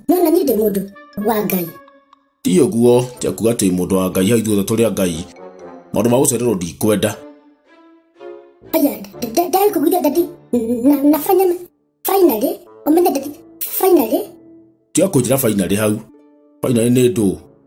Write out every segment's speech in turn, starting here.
nĩona niĩ ndĩ mũndũ wa ngai ti ũguo ti akuga atĩ mũndũ wa ngai hau ithuothe tũrĩ a ngai maũndũ ma gũcererwo ndikwenda aya ndai kũgwithia ndati na na fanyama finally ũmenya ndati finally tiga kũnjĩra bainarĩ hau bainarĩ nĩ ndũ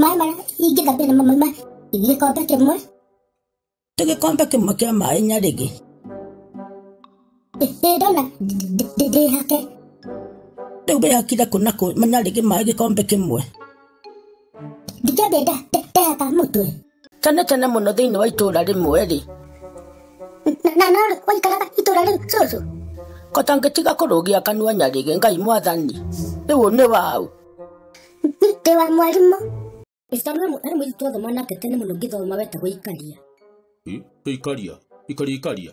maĩ marĩa ingĩthambĩra namo mauma gĩkombe kĩmwe tũ gĩkombe kĩmwe kĩa maĩ nyarĩgĩ ĩĩ ndona ndĩhake rĩu wĩhakire kũ na kũ nyarĩgĩ maĩ gĩkombe kĩmwe ndikĩambia ndahaka mũtwe Tene tene mũno thĩinĩ wa itũũra rĩmwe-rĩ, Na- na norĩ waikaraga itũra rĩu cũcũ kota ngĩtiga kũrũgia kanua nyarĩge ngai mwathani rĩu ũyũ nĩ waũ ndĩ wa mwarimũ Mr. Mwarimũ, arĩ mũirĩtu twathoma nake tene mũno ngĩthoma wetagwo Ikaria. Ikaria, ikaria, ikaria.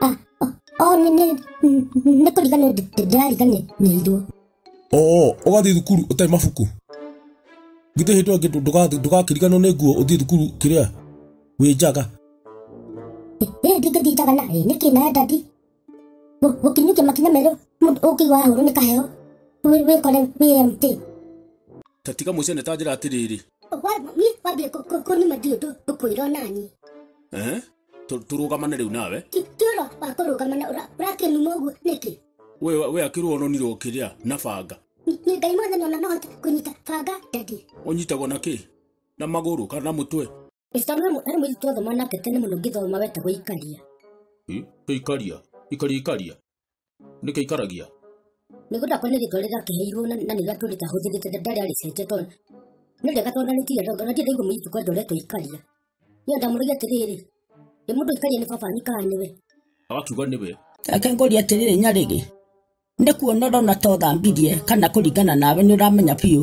Ah, ah, oh, nĩ nĩ nĩ kũriganĩrwo ndĩ- ndĩ- ndĩrariganĩirwo oo ũgathiĩ thukuru ũtarĩ mabuku githĩ hĩndĩ ĩyo ĩngĩ ndũ- ndũga- ndũgakĩriganwo nĩ nguo ũthiĩ thukuru kĩrĩa wĩ njaga ĩĩ ndingĩthiĩ njaga na ĩ nĩkĩ nawe ndandi Gũ- gũkinyũkia makinya merũ mũndũ ũkĩigua wahũrwo nĩ kaheo Wĩ- wĩkore wĩ empty ta tiga mũcene ta njĩra atĩrĩrĩ Wa- niĩ wambia kũ- kũ- kũnima ndiũndũ ngũkwĩrwo nani Ehe. Tu- turugamane riu nawe Ti- ti ũhoro wa kũrũgama na ũra- ũrakĩnuma ũguo nĩkĩ we we akirwo ononirwo kiria na banga Nĩ- nĩ ngai mwothe nona nohote kũnyita banga ndadi unyitagwo na ki na maguru kana na mutwe ĩcitano arĩ mũirĩtu athoma nake tene mũno ngĩthoma wetagwo ikaria Hmm? ikaria ikaria ikaria nĩkĩo ikaragia mĩgũnda kwa nĩ gĩtwarĩra kĩheirwo na na nĩga tũrĩ kahũthĩrĩte ndarĩ arĩcenjia tondũ nĩ rĩega tondũ nĩ tiga ndongo na tiga igũmĩ itu kwa ndoretwo ikaria nĩ ndamũrĩge atĩrĩrĩ nĩ mũndũ ikaria nĩ baba nikaga nĩwe agakiuga nĩwe reke ngũrie atĩrĩrĩ nyarĩrĩ nĩ kuona ũrona ta ũthambirie kana kũringana nawe nĩ ũramenya biũ